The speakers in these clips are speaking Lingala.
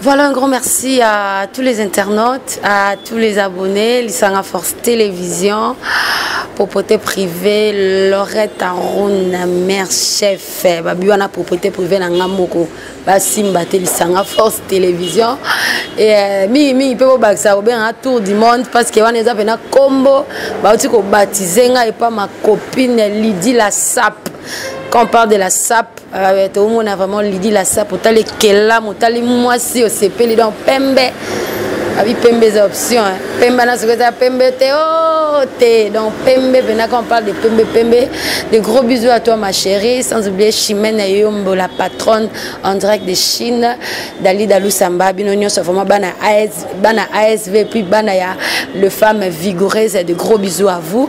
Voilà un grand merci à tous les internautes, à tous les abonnés, Lissanga Force Télévision, propreté privée, Lorette Aruna, mère chef, Babiwana propreté privée na ngamoko, Basimba Lissanga Force Télévision et euh, mingi mingi pe bobakisa kobenga un tour du monde parce que wana eza pena combo bauti kobatize ngai epa ma copine Lydie la sap quand on parle de la sap Ah ouais, tout le monde a vraiment l'idée la sape, t'as les kelam, t'as les mois si au CP, les dents pembe. Abi ah pembe des options, hein. pembe na ce que t'as pembe t'es oh t'es donc pembe, maintenant quand on parle de pembe pembe, des gros bisous à toi ma chérie, sans oublier Chimène Yombo la patronne en direct de Chine, Dali Dalou Samba, Binonio c'est vraiment bana AS, bana ASV puis bana ya le femme vigoureuse, des gros bisous à vous.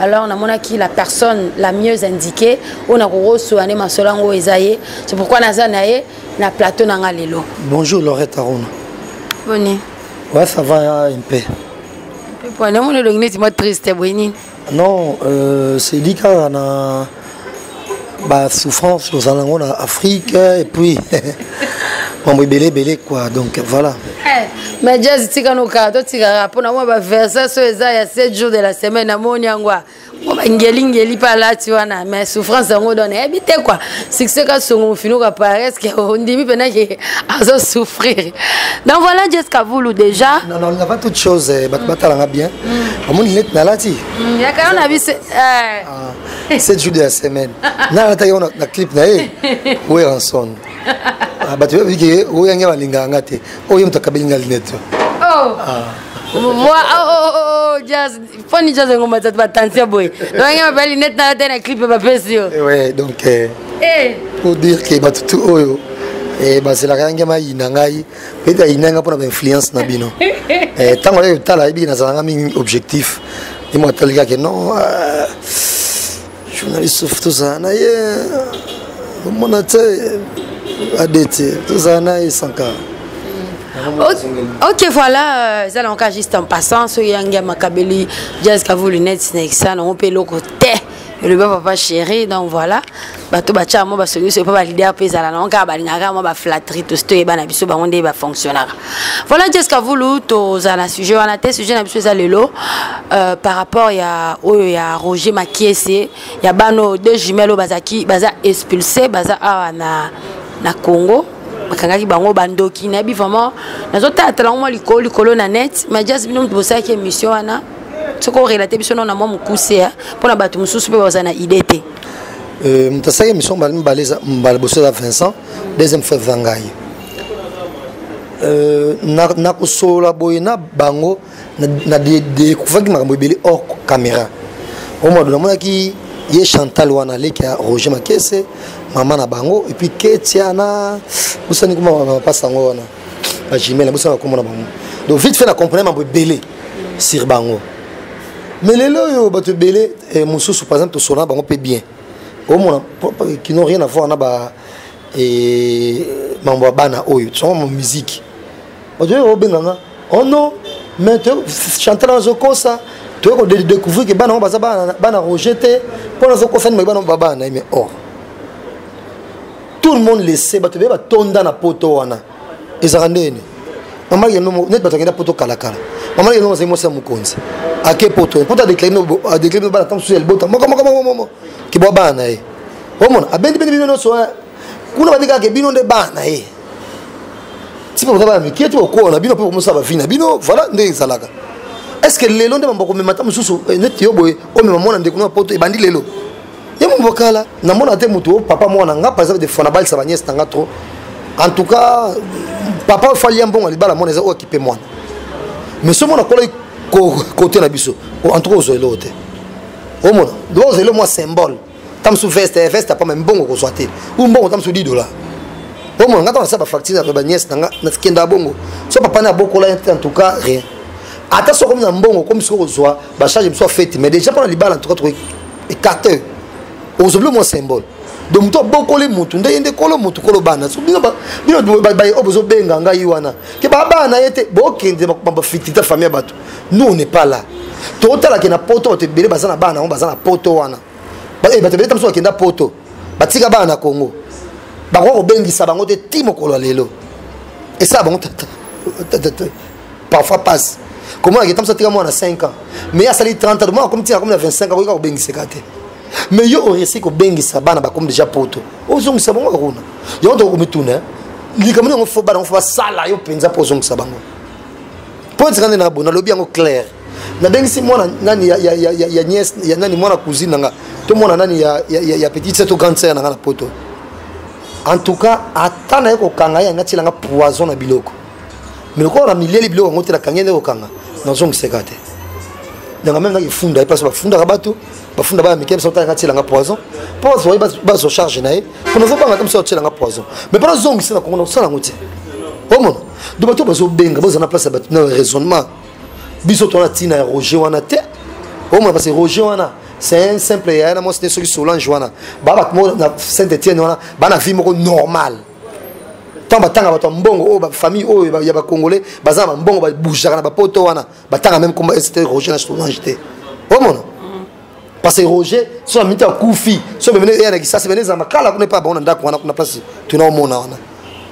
alors namonaki la personne la mieux indiquée oyo nakokosola nde masolo yango eza ye c'est pourquoi naza na ye na plateau na nga lelo bonjour lorette arona boni ouais ça va un peu mpo namoni elongi neti mwa triste boye nini non euh, sedi kaka na ba souffrance tozala yango na afrique et puis mambo ebele ebele quoi donc voilà eh, mais jazz tika nokaa totikaka mpo na mwa baversas oyo eza ya 7 jours de la semaine namoni yango ngelingeli mpe alati wana mais souffrance yango dona yebi te kua succès kasongo mofinuka pareske ondimi mpena ke azo souffrir donc voilà jesca vulu déjà nalingaka toute chose eh, bato batalanga bien mm. omoni neti nalati mm, yakana na biso eh. ah. 7 jours de la semaine na nataki yango na clip na ye weranson ah, bato bayebi ke oyo yange balingaka nga te oyo ye moto akabeli nga linete oh. ah. moi oh, oh, oh, oh, jazz foni jazz yango matatu batension boye donc yange mabaya linete na te na clip bapesi yo eh donc eh. Eh. pour dire ke bato tu oyo bazelaka yange mayina ngai ete ayinda nga mpona bainfluence na bino ntango eh, aye kotala ayebiki nazalanga mingi objectif ye moko atali kake non euh, journaliste sof tozala na ye omona te adete tozala na ye sanka ok voilà euh, eza nango kaka juste en passant soki yangi ya makabeli jazz kavulu neti na ekisa nango mpe eloko te elobi papa chéri donc voilà bato batyaka mwa basoniso mpo balider mpe ezala nango kaka balingaka mwa baflatterie tosi toyeba na biso bango nde bafonctionnaka voilà jesca vulu tozala na sujet wana te sujet na biso eza lelo euh, par rapport ya oyo ya roger makiese ya bana oyo deux jumelle oyo bazalaki baza expulse baza awa na, na congo bakangaki bango bandoki nayebi vraiment nazotalatala yango mwa likolo likolo na net ma jas bino moto bosalaki émission wana soki orelate biso nao na mwa mokuse mpo na bato mosusu mpe bazala na idée te Euh, moto asalaki émission mbala mibale mbala liboso eza vincent deuxième fois eza ngai euh, nakosolola boye na bango na découvraki makambo ebele hors caméra omado namonaki ye chantal wana aleki ya roger makese mama na bango epuis ketia na bosani kuma bapasa yango wana ba jumelle bosa ba komona bango donc vite fait na comprendre mambo ebele sur bango mais lelo oyo bato ebele eh, mosusu par exemple tosona bango mpe bien omona qui n'ont rien à voir na ba eh, mambo ya bana oyo tosonga ma musique bato oyo obenganga oh non mais chantal azokosa toyei kodécouvrir ke bana yango baza bana roger te mpo nazokosa nima bana bana na ye mais or oh. tout le monde le sait bato ebele batonda na poto wana ezalaka ndenge nini mama yeno neti bato akenda poto kalakala mama yeno azali mwasi ya mokonzi ake poto poto adeklare bana ntango mosusu ya libota mokomokomokomo kibwa bana na ye omona abendi bendi bino nyonso eh. kuna bandi kaka ke bino nde bana na ye ti bakoza bana mikie ti bakokola na bino mpe bakomosala bavi na bino voilà nde ezalaka est ce que lelo nde bambokomema ata mosusu eh, neti yo boye omema mwana ndeko na poto ebandi lelo ye mumbo kala namona te moto oyo papa mwana nga par exemple de fona balisa baniese na nga trop en tout cas papa ofali ya mbongo ya libala mwana eza oyo akipe mwana mais soki mwana akolaki kote na biso en tout cas ozwa eloko te omona loba ozwa eloko mwa symbole ta mosusu veste eh, veste apama mbongo okozwa te u mbongo ta mosusu 10 dollar omona nga ntango nasala bafacture ya baniese na nga nakenda bongo so papa ne abokola te en tout cas rien ata soki okomi na mbongo okomi soki kozwa bacharge mosusu afeti mais déjà mpo na libala en tout cas tokoki écarté ozobilo mwa symbole donc moto abokoli motu nde ye nde kolo motu kolo bana bino baye oyo bozobenga ngai wana ke babana ye te bokende bafitita famille ya bato nous on n'est pas là totalake na poto bato ebele baza na bana yango baza na poto wana eh, bato ebele ta mosusu bakenda poto batika bana na congo bakoka kobengisa bango te ti mokolo ya lelo esala bango tata parfois passe komona ke tamsa tika mwana 5 ans mais asali 30 ans mwana akomi tika akomi na 25 akoki kaka kobengiseka te mais yo oresi kobengisa bana bakomi déjà poto ozongisa bango kaka kuna yango tokoki komituna likambo yango fo bana yango fo basala yo mpenza mpo ozongisa bango mpo etika nde na bo nalobi yango claire nabengisi mwana nani ya, ya, ya, ya, ya nièce ya nani mwana cousine na nga to mwana nani ya, ya, ya, ya petite sœur to grande sœur na nga na poto en tout cas ata naye kokanga ye anga tielanga poison na biloko mais lokola na milieli biloko yango te nakangi nde kokanga nazongiseka te yanga meme naki funda ye place bafundaka bato bafunda baya mike misotala nga tielanga poison mpo bato baye bazo charge na ye mpo nazobanga te mosala tielanga poison mais mpo nazongisa na kongo nakosala yango te omona do bato bazobenga boza na place ya bato na raisonnement biso tona ntina ya roger wana te omona parce que roger wana c'est un simple yaya na mwasi te soki solange wana baa bato moko na saint etienne wana baa na vie moko normale ntango batanga bato ya mbongo oyo bafamille oyo ya bacongolais baza na bambongo babougeaka na bapoto wana batanga meme komba st roger na solange te omona parce que roger so na miti akufi so bemene eya na kisasi bene ezala makala kuna epa bango na ndako wana kuna place tuna omona wana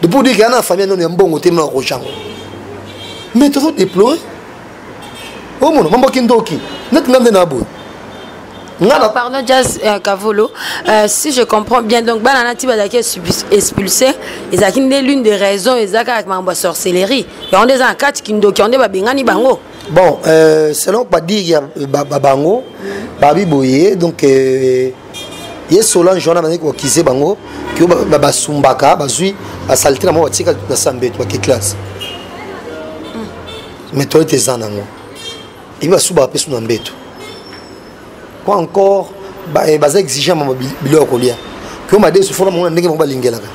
depuis odiki ya na famille nono ya mbongo te mona roger yango mais tozo déplorer omono mambo kindoki neti nga nde na boye Ngana. Pardon, Jazz euh, Kavolo. Euh, si je comprends bien, donc Banana Tiba Dake expulsé, et ça qui n'est l'une des raisons, et ça avec ma sorcellerie. Et on est en quatre qui n'ont pas bengani bango. Bon, euh, selon pas dire euh, bango, babi boye, donc. Euh, ye solange wana bazali kokise bango kio basumbaka bazwi basalite na mwa batika na sambeto bakiclase mais toyete eza nango ebi basubaka mpe su na mbeto po encore eh, baza exigent ma biloko ya kolia kio madesu fona mongo na ndenge moko balingelaka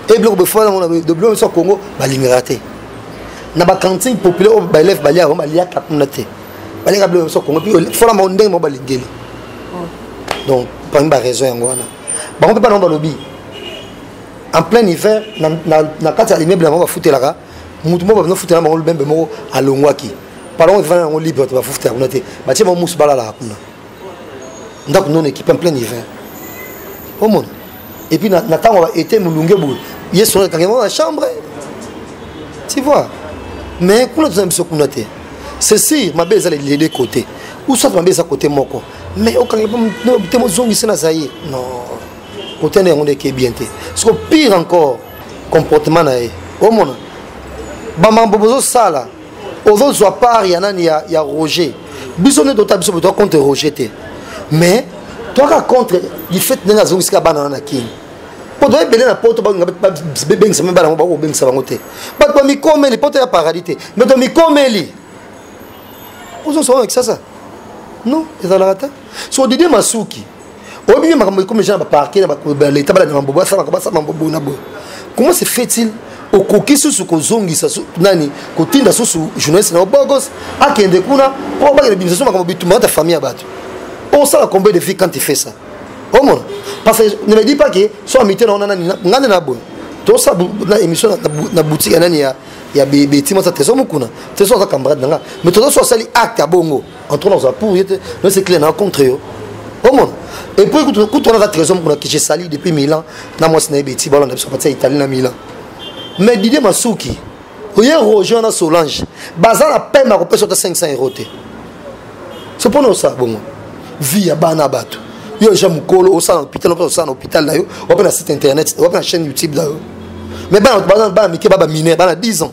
e biloko befona yango na biloko nyonso ya congo balingaka te na bacantine populaire oyo baelève baliaka yango baliaka kuna te baliaka biloko nyonso ya congo mpe fona mongo ndenge moko balingeli oh. donc parmi baraison yango wana bango mpe bana yango balobi en plein hiver na kati ya immeuble yango bafutelaka mutu moko bazo futela bango lubembe moko alongwaki palongo efana yango libre bato bafufutela kuna te batie bango musu balalaka kuna ndako nono ekipe en plein hiver omona epuis na ntango ya baete molunge boye ye solo ekangi yango na chambre tu vois mais kuna toza na biso kuna te ceci mabe eza lelele kote ou soit mabe eza kote moko mais okangi te mozongisi na zaire non kote na yango nde eke bien te soko pire encore comportement na ye omona bamambo bozosala ozozwa part ya nani ya, ya roger biso nde tota biso botoa contre roger te mais toaka contre lifete ndenge azongisika bana wana na kini mpo toa ebele na poto balinga bebengisa me bana yango bakoki kobengisa bango te bato bamikomeli poto ya paradis te me tomikomeli ozosonga kisasa non ezalaka te so didie masuki oyebi nde makambo ekomi genre baparke na baleta balanda mambobo asalaka basala mambobo na boye comment se fait-il okoki susu kozongisa nani kotinda susu journaliste na obogos akende kuna mpo abakela bimisa so makambo bitumba ata famille ya bato osala combien de vie quand tu fais ça omona parce que ne me dis pas que so amite na ona nani ngai nde na boye tosa na émission na boutique ya nani ya ya beti masa teso mukuna teso aza camarade na nga mais toza so asali acte ya bongo entre nous a pour yete mais c'est clair na contre yo omona et puis kutu kutu wana za trésor mukuna kiche sali depuis Milan na moi sina ebeti bala na biso patia Italie na Milan mais Didier Masuki oye Roger na Solange baza na peine na kopesa ta 500 euros te c'est pour nous ça bongo vie ya bana bato yo ja mukolo osala na hôpital ope osala na hôpital na yo wape na site internet wape na chaîne youtube na yo mais bana bana mike baba mineur bana 10 ans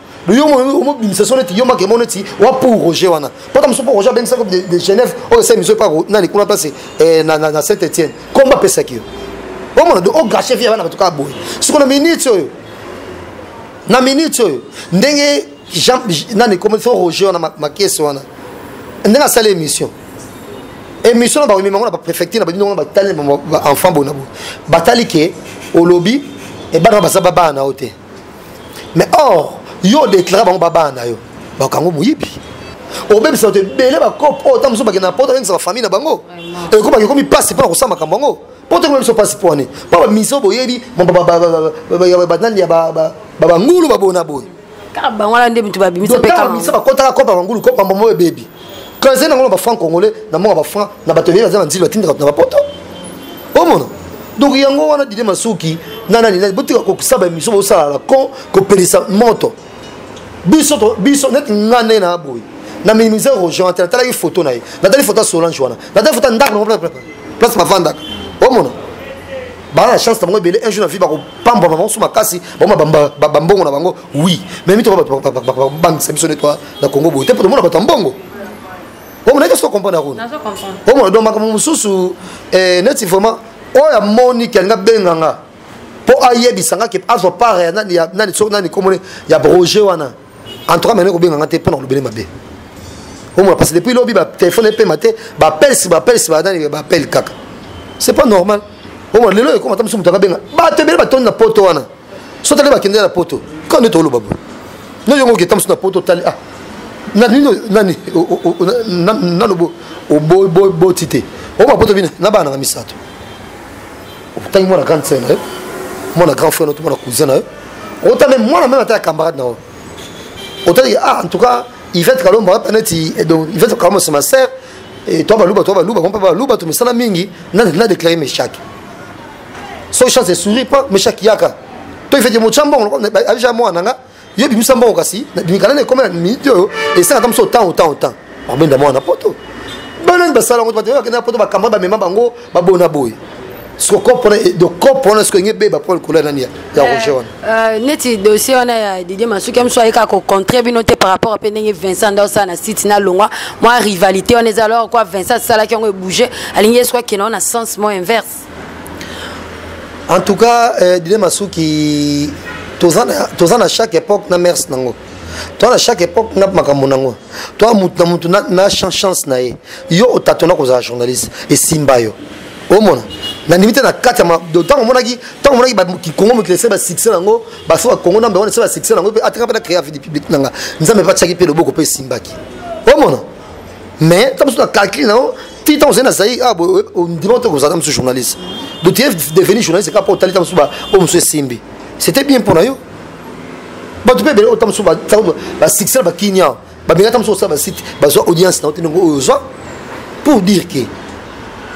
yo omobimisa so neti yo makemo neti wa pour roger wana mpota mosusu mpo roger abengisaki de genève oyo esa émission epa nani kuna place eh, na saint étienne komba apesaki yo omona do ogache vie ya bana bato kaka boye siko na minute oyo na minute oyo ndenge jean nani komi fo roger wana makese wana ndenge asali émission émission na bakomema yango na bapréfecture na badino yango na batali enfant bona boye batali ke olobi ebana baza babana na yo te mais or yo odeclara bango babana na yo bakango moyibi obebisa bato ebele bakope oyo oh, ta mosusu bakenda na poto abengisa bafamille na bango ekobaki ekomi mpasi mpo na kosala makambo yango mpo te koyebisa mpasi mpo wane mpo bamiso boyebi banani ya babangulu baboye na boye kaka bango wana nde moto babimisa mpe kaka bakotaka kopa bangulu kopa mbombo ebebi quand ezali nango na bafranc congolais na mboka bafranc na bato ebele baza na nzili batindaka bato na bapoto omona donc yango wana dide masuki na nani nani botika kokisa baémission bosala la con kopelisa moto biso biso neti nga nde na boye na minimise rogean te natalaki foto na ye natali foto ya solange wana natali foto ya ndako nango place bavandaka omona baa na chance na bango ebele un jour na vie bakopambwa bango so makasi bango bambongo na bango oui mais mitoko bato babangisa biso ne toi na congo boye te mpo tomona bato ya mbongo omona eke soki okomprendre kuna omona donc makambo mosusu eh, neti vraiment oyo amoni ke alingi abenga nga mpo ayebisa nga ke azwa part ya nani soki nani komone ya broger wana en tout cas mene kobenga nga te mpo na kolobele mabe omona parce que depuis lobi batelefone epema te bapelsi bapelsi banani bapele kaka c'est pas normal omona lelo ekoma ata mosusu moto akabenga bato ebele batondi na poto wana so tali bakende na poto kaka nde toloba boye no yongo oketa mosu na poto otali ah nanino nani nalobo oboti te oba poto bino na bana nanga misato otangi mwana grande sœur na yo mwana grand frère na yo to mwana cousin na yo otala mwana meme ata ya camarade na yo otali ah en tout cas ivete kalombo ata neti eh, donc ivete kalombo c'est ma sœur et toi baluba toi baluba mpe baluba tomisana mingi na déclare meshaki so chance e sourit pas meshaki yaka to ifete motya mbongo abija mwana na nga yo bimisa mbongo kasi mikala na ekomela minute oyo esala ata moso otan otan otan babenda mwana na poto banani basala yango bato bakenda na poto bakamba bamema bango babona boye dokop wana soki enge beba mpo likolo ya nani ya roger wana neti dossier wana ya didie masuki ya mosu ayeka kocontre bino te par rapport mpe ndenge vincent nda osala na site na longwa mwa rivalité wana eza alors kua vincent asalaki yango ebouge alingi ye soki akenda wana na sens mo inverse en tout cas euh, dide masuki toza na chaque époque na merce nango toza na chaque époque na makambo nango toa motu na motu na chance na ye yo otatona kozala journaliste esimba yo omona nandimi te na kati ya ntango omonaki ntango omonaki kongo mokili esali basuccès nango basi bakongo nambe wana esali basuccès nango mpe ataka mpe na créer avidi publique nanga nzambe mpe atyaki mpe loboko mpe esimbaki omona mais ntango mosusu na calcule nango ti ntango ozali na zaire ah, ondima ote kozala mosusu journaliste donc tu es devenu journaliste kaka mpo otali ntango mosusu oyo mosusu esimbi c'était bien mpo na yo bato mpe ebele ota mosusu basuccès na bakinia babenga ta mosusu osala basite bazwa audience na yo te ndenge oyo ozwa pour dire ke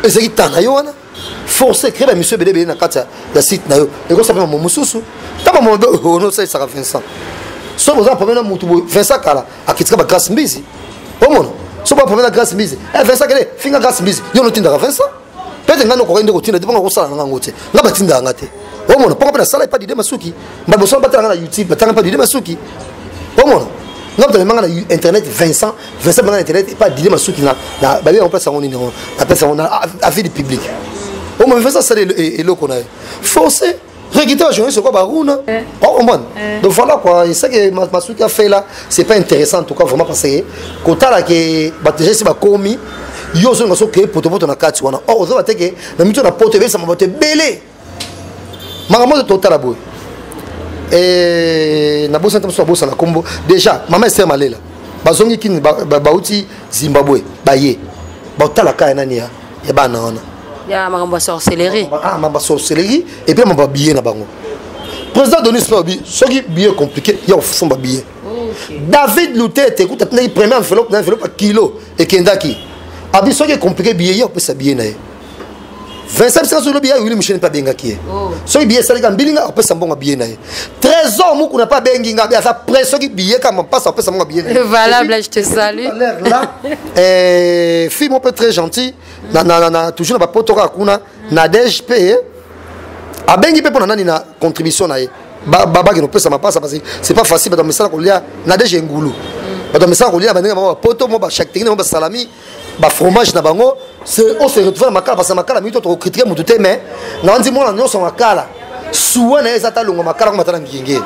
ezalaki ntango na yo wana force créer ba mission bele bele na kati ya site na yo ekosa pe mamu mususu ta mamu be ono sa saka Vincent so boza problème na mutu Vincent kala akitika ba grâce mbizi omona so ba problème na grâce mbizi eh Vincent kele finga grâce mbizi yo no tindaka Vincent peut-être ngano ko kende ko tinda dipanga ko sala na ngango te ngaba tinda ngate omona poko pe na sala pa dide masuki ba boso ba tanga na youtube ba tanga pa dide masuki omona ngaba tanga na internet Vincent Vincent bana internet epa dile masuki na babi yango place yango nini yango na place yango na avis du public oyo ma Vincent asala eloko na ye forcé regite bajournaliste lokola baruna okomprendre donc voilà quoi eseke masuki afela c'est pas intéressant en tout cas vraiment parce que kotala ke bato déjà esi bakomi yo ozonga so keye potopoto na kati wana or ozoba te ke na mito na poto ebebisama bato ebele makambo oyo totala boye eh, nabosani te mosusu abosana nkombo déjà mama ester malela bazongi kini bauti zimbabwe baye baotala kaya nani ya bana wana ya makambo ya sorcellerie ah, makambo ya sorcellerie epuis makambo ya billet na bango président denis mpe alobi soki billet compliqué ya kosomba billet david lutete kuta atindaki premier enveloppe na enveloppe ya kilo ekendaki abi soki ecomplike billet ye akopesa billet na ye vincent bisika soki lobi ya wili musheni mpe abengaki ye oh. soki biye esalika mbilinga akopesa mbongo biye na ye trésor mukuna mpe abengi nga aza près soki biye kama mpasi akopesa mbongo biye na ye valable je te salue là eh, fille mo mpe très gentil na, na, na, toujours na bapoto kaka kuna nadège mpe abengi mpe mpo na nani na contribution na ye babaki nopesa mapasa parce c'est pas facile bato misala kolia nadège engulu bato misala kolia bandenge bango bapoto mo bachacteki na bango basalami ba fromage na bango on se retrouve na makala parce que makala mingi to tokokritike motu te mais na wanzi mwana nyonso makala suwa na ye eza ta alonga makala komata na ngenge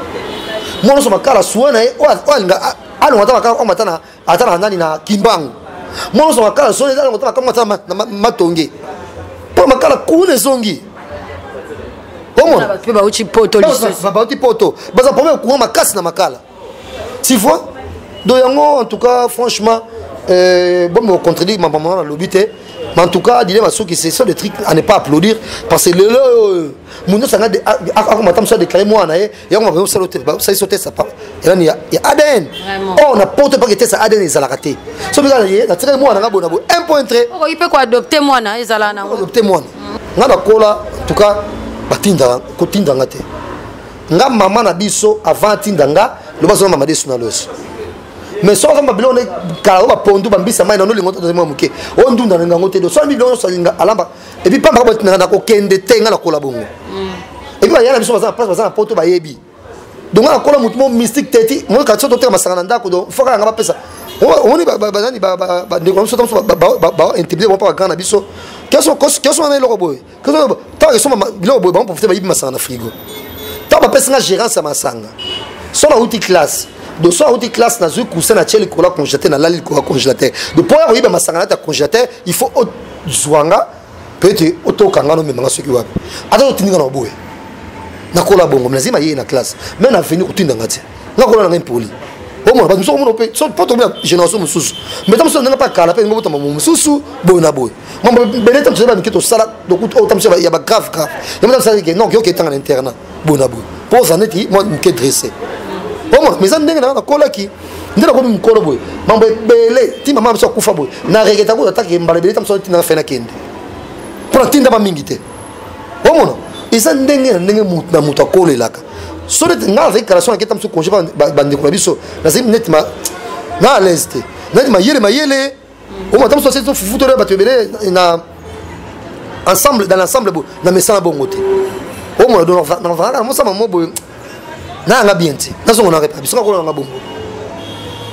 mwana nyonso makala suwa na ye oyo alinga alonga ata makala komata ata na nani na kimbangu mwana nyonso makala suwa na ye eza alonga ata makala komata na matonge mpo makala kuna ezongi omona bauti poto baza problème kuwa makasi na makala tu vois donc yango en tout cas franchement euh, bon me contredire ma maman alobi te mais en tout cas dile basuki ce sont des trucs à ne pas applaudir parce que lelo oyo moto nyonso anga akoma ata mosu adéclare mwana ye yango makoki kosala te basalisi otesa papa elani ya adn or na poto mpaka etesa adn ezalaka te so bika ye natikali mwana nga bona boye un point tre okoki mpe koadopte mwana ezala nango adopte mwana nga nakola en tout cas batindaka kotindanga te nga mama na biso avant atinda nga loba zona mama desu na loso mais soki azomba biloko nde kala oyo bapondu bambisa mai nano lingo tata mwa moke oyo ndunda na ngango te do soki biloko nyonso alinga alamba epuis pamba kaka na kokende te nga nakola bongo mm. epuis baya na biso baza na place baza na poto bayebi donc nga nakola motu mo mystique te ti moi kati soki toteka masanga na ndako do fo kaka nga bapesa omoni banani bandeko na biso ta mosusu baintimide bango mpa bagrand na biso kioso wana eloko boye ntango esomba biloko boye bango profite bayibi masanga na frigo ntango bapesi nga gérance ya masanga so nauti classe donc so auti classe nazwi coussin natye likolo ya congélateur nalali likolo ya congélateur donc mpo ya koyiba masanga nati ya congélateur il faut ozwa nga mpe ete otoka nga nomema nga soki wapi ata otindi nga na boye nakola bongo nazali mayeye na classe mai na veni kotinda nga te nga kola na ngai mpoli omona bato mosusu omona mpe po tomona génération mosusu mbeta mosusu ndenge mpe akala mpe ndenge botama mosusu boye na boye mambo ebele ntango tozali bamike tosala otambusi ya bagrave grave yango namisala ke non yoka etanga na internat boye na boye mpo oza neti mwa moke dresse omona mais eza ndenge nanga nakolaki nde nakomi mokolo boye mambo ebele ti mama biso akufa boye na regeta kuta atake mbala ebele ta mosu atindaka fe nakende mpo natindama mingi te omona eza ndenge na ndenge na moto akolelaka so neti ngai nazali kalation naketa mosu congé bandeko na biso nazali neti na alaise te neti mayele mayele omo ata mosusu asili tofufu tolia bato ebele na ensemble dans l'ensemble boye na mesana bongo te omo navangaka na mosama mo boye nayanga bien te nazongo na repa biso kakola nanga bongo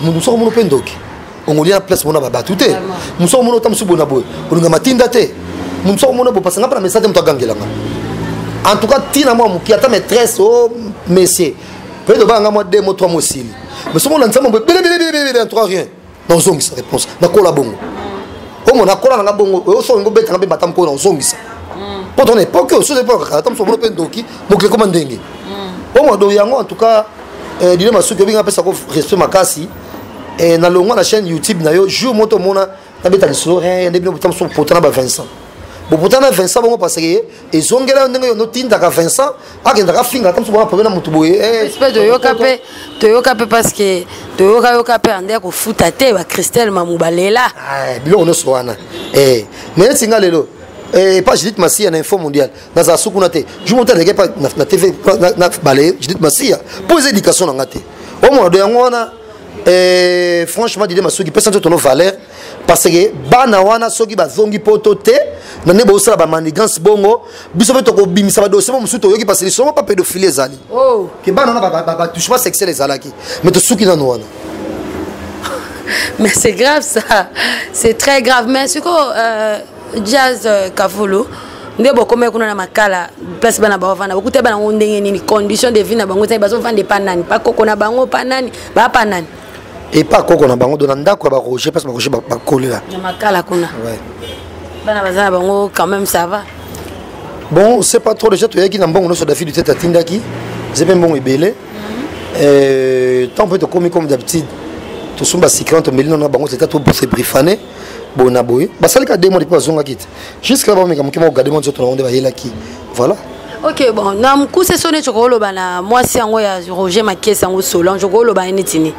mundu soko mono mpe ndoki ongolia na place mona babato te mosu omona ota mosusu bona boye olinga matinda te mosu omona boye pasanga mpe na message te moto agangelanga en tout cas ntina mwa moki ata maîtresse o oh, messie peut-être obanga mwa deux mo trois mosili mais soki olanda nzambe boye belebelebelebele en tout cas rien naozongisa réponse nakola bongo omo nakola nanga bongo osoki ngobetanga mpe mbata mokolo naozongisa mpo tona epoke oyo soki epokaka ata mosobono mpe ndoki mokili ekoma ndenge omo do yango en tout cas eh, dile masuki obinga apesa ko respect makasi eh, nalongwa na chaîne youtube na yo jour moto omona nabeta lisolo eh, nde bino bota mosusu potana ba vincent bopotana vincent bongo parce que ezongela yo ndenge yo notindaka vincent akendaka afinga ata mosuku wana problème na motu boye eh, toyoka mpe toyoka mpe parce que toyokayoka mpe ande kofuta te bacristel mamu balela ah, biloko nyonso wana eh, mais neti nga lelo eh, epa judith masiya na info mondial nazala suku na te jour moto aleki epa na tv na bale judith masiya mpo eza éducation na nga te omona do yango wana franchement dide masuki pesa nzoto no valeur parce que bana wana soki bazongi poto te na nde bosala bamanigance bongo biso mpe tokobimisa badosie mo mosusu toyoki parce lisolo mpa pédophile ezali oh. ke bana wana batouchement sexuel ezalaki mais tosuki nano wana mais c'est grave ça c'est très grave mais siko euh, jazz euh, kavulu nde bokomaki kuna na makala place bana bavanda bokuta banango ndenge nini condition de vie na bango ezali bazovanda epa nani bakoko na bango pa nani bapa nani epa koko na bango do na ndako ya baroger mpasi baroger bakolela makala kuna bana baza na bango quand même ça va bon c'est pas trop déjà toyaki na mbongo nyonso dafi dutete atindaki eza mpe mbongo ebele ntango mpe tokomi comme d'habitude tosomba sikran tomeli nano na bango teta tobriefane boye na boye basalika demande mpe bazongaki te jusque là bameka moke moko gade mwa nzoto na yango nde bayelaki voilà ok bon na mokuse so neti okoloba na mwasi yango ya roger makesi yango solange okoloba ye neti nini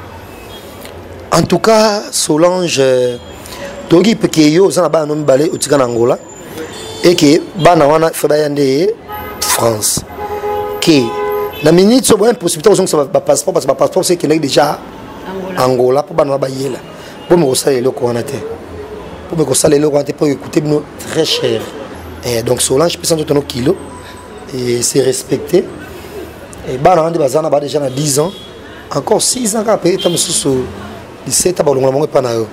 en tout cas solange euh, toyoki peke yo oza na bana no mibale otika na angola eke bana wana fe baya nde france ke na minute so boya impossibilité kozongisa bapasseport parce bapasseport so ekendaki déjà angola mpo bana wana bayela mpo mekosala eloko wana te mpo mekosala eloko wana te mpo ekoute bino très cher eh, donc solange pesa nzoto no kilo et se respecter et bana wana nde baza na ba déjà na 10 ans encore 6 ans kaka mpe ta mosusu 17 ans balongola bango epai na yo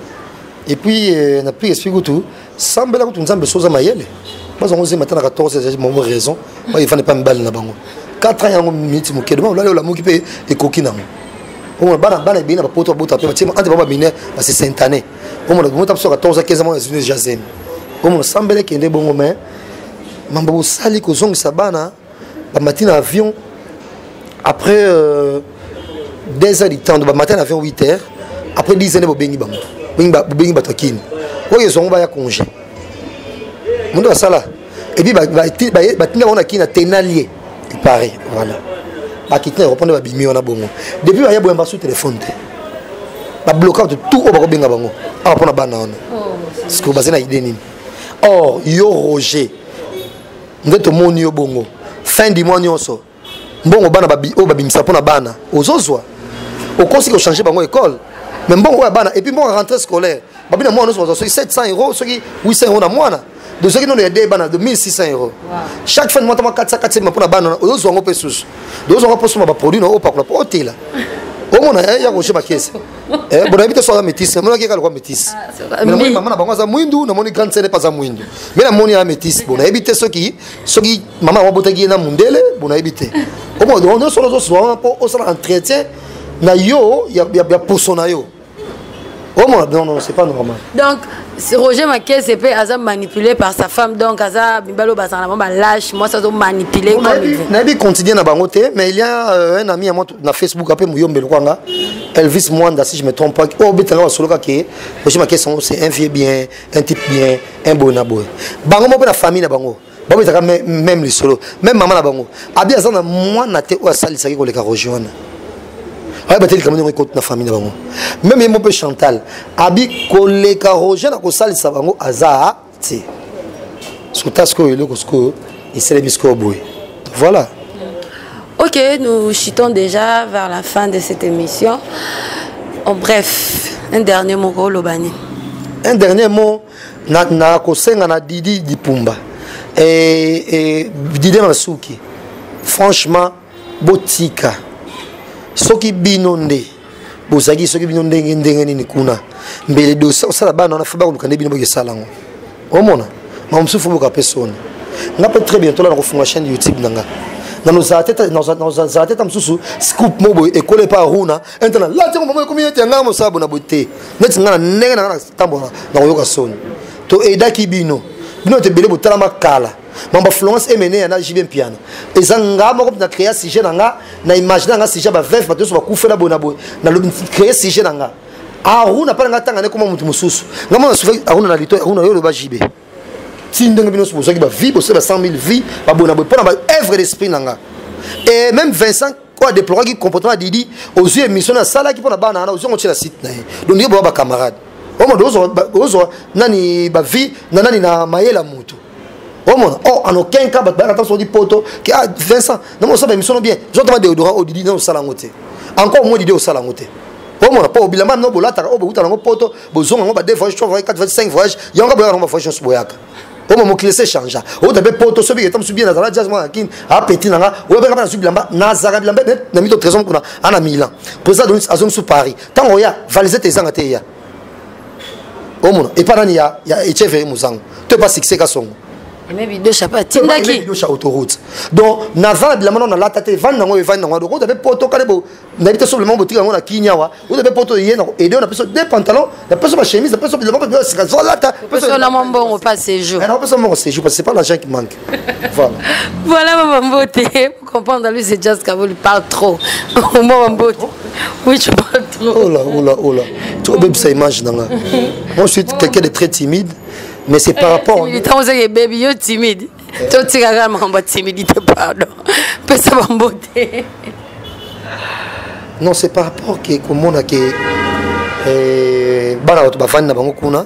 et puis euh, na plus esprit kutu sambela kutu nzambe so oza mayele baza yango ozemba ata na 14 bango raison baefanda epa mibali na bango 4 ans yango miniti moke dema olali olamuki mpe ekoki nango omona bana bana ebele na bapoto babota mpe batie ante bango baminere base saint année omona bomota biso 14 15 mwana ezwi deja zemi omona sambela ekende bongo mai mambo bosali kozongisa bana bamati na avion après euh, deux heures du temps bamati na avion 8 heures après 10 heures bobengi bango bobengi bato ya kini oyo ezwango baya congé mondo basala epuis batinda bango na kini na tenalie ipare voilà bakiti na eropone babimi wana bongo depuis baya boyamba su telefone te babloka bato tout oyo bakobenga bango awa mpo na bana wana oh, sikoyo baza na ide nini or yo roger nde tomoni yo bongo fin du mois nyonso mbongo bana oyo babimisa mpo na bana ozozwa okosi kochange bango ekole mais mbongo oyo ya bana epuis mbongo ya rentrée scolaire babi na mwana nyonso bazwa soki 700 euro soki 800 euro na mwana de soki nono ya de bana de 1600 euro chaque fin de mois tama 400 400 mpo na bana ozozwa yango mpe susu de ozwa yango mpo osomba baproduit na oyo opakola mpo otela omona ya roger bakese eh bon habite soit métisse na monaki kala kwa métisse ah, mais moni maman na bango aza mwindu na moni grande sœur pas za mwindu mais na moni ya métisse bon habite soki soki maman wa botaki na mundele bon habite au moins on est sur les soins pour au sala entretien na yo ya ya poso na yo au moins non non c'est pas normal donc roger makese mpe aza manipulé par sa femme donc aza mibali oyo bazala na bango balâche mwasi azo manipulé nayebi continue na bango te mais il y a euh, un ami ya moi na facebook ape muyombe lokwa nga elvis mwanda si je me trompe pas oyo oh, obetanga basoloka ke roger makesongo c'est un vieux bien un type bien un boye na boye bango moko mpe na famille na bango babetaka meme lisolo meme mama na bango abi aza na mwana te oyo asalisaki koleka roger wana ayeba te likambo ndenge ekoti na famille na bango meme ye moko mpe chantal abi koleka roger na kosalisa bango aza te suta sikoyo eloko sikoyo esalemi sikoyo boye voilà ok nous chutons déjà vers la fin de cette émission en bref un dernier mot oloba nini un dernier mot nakosenga na, na didi dipumba e, e, dide masuki franchement botika soki bino nde bozalaki soki bino ndenge ndenge nini kuna mbele dosa osala bana wana fa bakoluka nde bino bokesala yango omona ma mosusu fo boka mpe soni nga mpe très bientôt la nakofunga chaîne youtube na nga nazala te ta mosusu scoop mo boye ekola epa aruna ente na lati yango mama ekomi ete yanga mosala bona boye te neti nga na ndenge na nga natambola nakoyoka soni to edaki bino bino ete ebele botalama kala mambo florence emene ya na jb mpiana eza nga moko na créa sujet na nga na imagine na nga sujet ba veuve bato nyonso bakufela boye na boye na créa sujet na nga aruna mpa na nga ntanga nekoma moto mosusu nga mona sufa aruna na lito aruna yo oloba jb ti ndenge bino nyonso bozwaki bavie bosala ba 100 000 vie baboye na boye mpo na baœuvre d'esprit na nga et même vincent oyo adeploraki comportement ya didi ozwi émission nasalaki mpo na bana wana ozwi yango otyela site na ye donc ndenge boya bacamarade omodo ozwa nani bavie na nani na mayela moto omona o oh, en aucun cas bato bayaka soki poto ke a ah, vincent namo osala émission no bien zotoma deodora oyo oh, didi nano osala yango te encore moi didi osala yango te omona mpo obilamba mino bolataka oyo bokutana yango poto bozonga yango ba 2 voyage 3 voyage 4 voyage 5 voyage yango boyaka yango bavoyage nyonso boyaka oyo mokili ese changea outa mpe poto soki eta mosusu bien nazala jazz mwana na kini apeti na nga oyo mpe nga mpe nazwi bilamba nazalaka bilamba na mito trésor mokuna ana milan président donis azongi su paris ntango oya valisete ezanga te eya omona epa nani ya, ya echeve ye mozango to epa succès kasongo bidosha mpe atindaki bidosha autoroute donc naza na bilamba nao nalata te evandi nango evandi nango donc oza mpe poto kale nayebi te soblema botika yango na kini awa oza mpe poto eye na aide na peso deux pantalon na peso bachemise na peso bilamba mpe sika zolata peso na mwa mbongo mpa séjour na peso mbongo séjour parce que c'est pas l'argent qui manque voilà voilà mama mbote pour comprendre lui c'est just kavoli parle trop mama mbote oui tu parles trop oh là oh là oh là tu obebisa image nanga moi je suis quelqu'un de très timide mais c'est par eh, rapport militant ozaki ebebi yo timide eh. totikaka makambo ya timidité pardon pesa bambo te non c'est par rapport ke komona ke eh, bana bato bafandi na bango kuna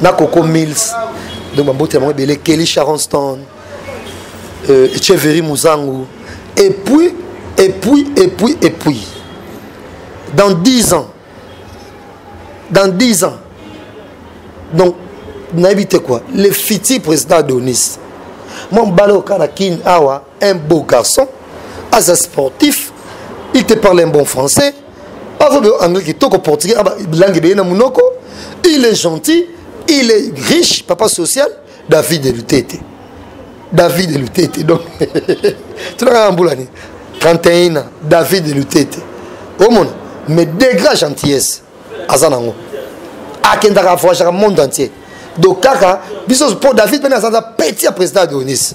na coco mills donc bamboti ya bango ebele kelly charonston euh, cheveri muzangu et puis et puis et puis et puis dans 10 ans dans 10 ans donc nayebi te quoi le futur président adonis mwa mobali oyo kaka na kin awa un beau garçon aza sportif il te parle un bon français avobe anglais kitoko portugais ah langue ebeye na monoko il est gentil il est riche papa social david elutete david elutete donc tunaka na mbula nini 31 ans david elutete omona mais degra gentillesse aza nango akendaka avoyagaka monde entier donc kaka biso mpo david mpene aza aza petit ya président adonis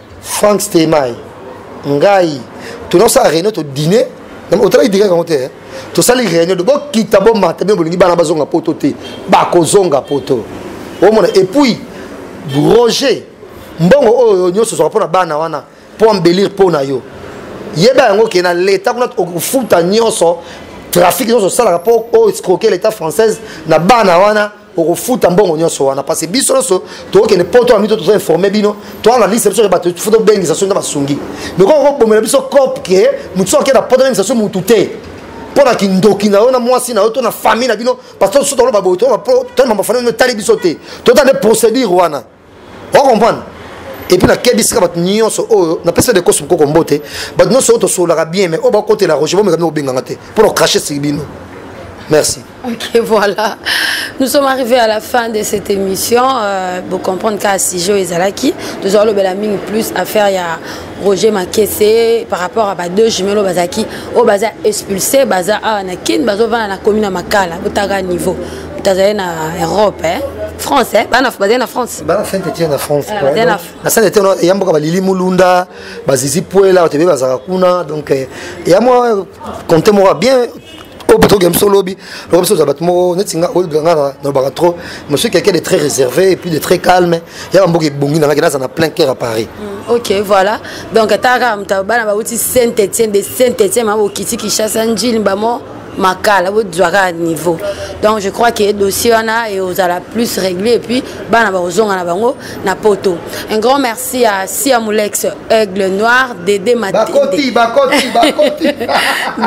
frank stemay ngai tonaosala réunion todine otalaki dine yango te eh? tosali réunion de bokita bomata bino bolingi bana bazonga poto te bakozonga poto omona epuis roger mbongo oyo nyonso ozwaka mpo na bana wana mpo embelire mpo na yo yeba yango ke na leta kuna okofuta nyonso trafic nyonso osalaka mpo oescroke leta française na bana wana okofuta mbongo nyonso wana parce biso nyonso tokokende poto na mito tozoinforme bino toanalise biso bato fo tobengisa soki na basungi meko okobomela biso cope ke motu soki akenda poto abengisa so motu te mpo na kindoki na yo na mwasi na yo to na famille na bino parce que so toloba boye tolobamafani etali biso te tota nde procédure wana o comprendre epuis nakebisaka bato nyonso oyo napesa de kosi mokoko mbote bato nyonso oyo tosololaka bien mais oyo bakotela roger bomekami kobenganga te mpo na kocrache sili bino merci ok voilà nous sommes arrivés à la fin de cette émission euh, bokomprendre kaka sujet oyo ezalaki tozwa lobela mingi plus affaire ya roger makese par rapport à ba deux jumelo bazalaki oyo baza expulsé baza awa na kin bazovanda na komi na makala botaka niveau tazali na europe eh? france eh? bana bazali na france bana fente tie na france eh, na sale te eya mboka balili mulunda bazizi puela bato ebe bazalaka kuna donc eh, eya mwa compte moko bien oyo bato oke biso lobi lokola biso oza bato moko neti nga oyo nga nalobaka trop monsieur quelqu'un de très réservé et puis de très calme ya bamboka ebongi na ngaki naza na plein cœur à paris mm, ok voilà donc ataka moto bana bauti saint étienne de saint étienne ma bokiti kinshasa njili bamo makala bozwa kaka niveau donc je crois que dossier wana eozala plus réglé et puis bana bakozonga na bango na poto un grand merci à sia molex aigle noir dede matende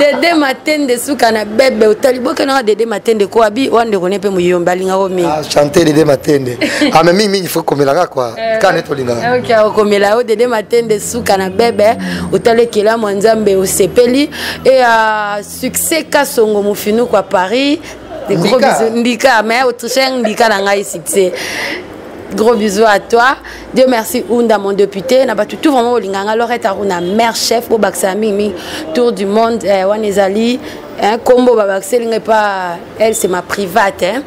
dede matende suka na bebe otali bokenaka dede matende ko abi wana ndeko ne mpe moyombe alingako mingi ah, chante dede matende ame ah, mingi mingi fo komelaka kua eh. kane tolingaka okomela yo dede matende suka na bebe otali ekelamu ya nzambe osepeli et uh, succès kasongo mofinuku à paris des ndika. gros bisous ndika mais autrichien ndika na ngai succès gros bisous à toi dieu merci unda mon député na bato tout vraiment olinga nga lorette aruna mère chef bobakisaka mingi mingi tour du monde eh, wana ezali nkombo babakiseli ngai pa elle c'est ma private hein.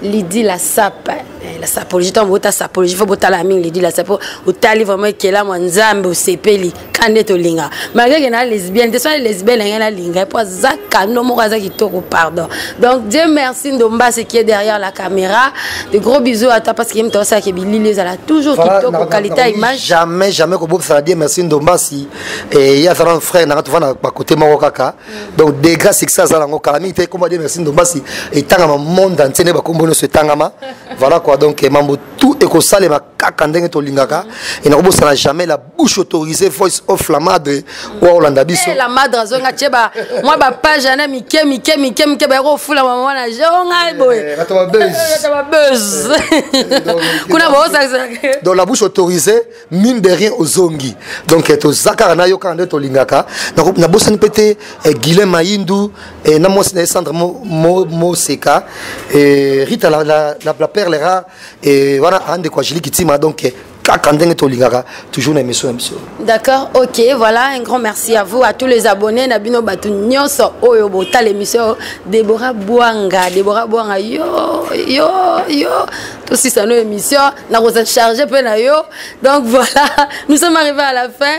lidi la sape eh, la sapologie ntango bota sapologie fo botala mingi lidi la sape otali vraiment ekelamu ya nzambe osepeli ka nde tolinga malgré ke na lesbienne te soki lesbienne na ngai nalinga ye mpo aza kano moko aza kitoko pardon donc dieu merci ndombasi qui est derrière la caméra de gros bisous à toi parce que ye moto asalaka bilili ezala toujours kitoko qualité ya image jamais jamais kobokisaka dieu merci ndombasi ye aza na frère nanga tova na bakote moko kaka donc degra succès aza nango kala mingi te ekomba dieu merci ndombasi etangama monde entier nde bakombo nyonso etangama voilà quoi donc mambo tout ekosalema kaka ndenge tolingaka et nakobosana jamais la bouche autorisée voice of la madre oyo akolanda biso eh, la madre azongi atie mwa bapage yana mike mike mike mike bayaki kofula mama na je o ngai boye babuse kuna baosakisaa donc la bouche autorisée mine de rien ozongi donc eh, toza kaka nayo kaka nde tolingaka nabosani mpe te eh, guilain maindu na mwasi na ye sandre moseka rita la perle rare Et voilà, un de quoi je Kitima, donc kaka ndenge tolingaka toujours na émission na biso d'accord ok voilà un grand merci à vous à tous les abonnés na bino bato nyonso oyo botala émission débora bwanga débora bwanga yo yo yo tosisa no émission nakoza charge mpe na yo donc voilà nous sommes arrivés à la fin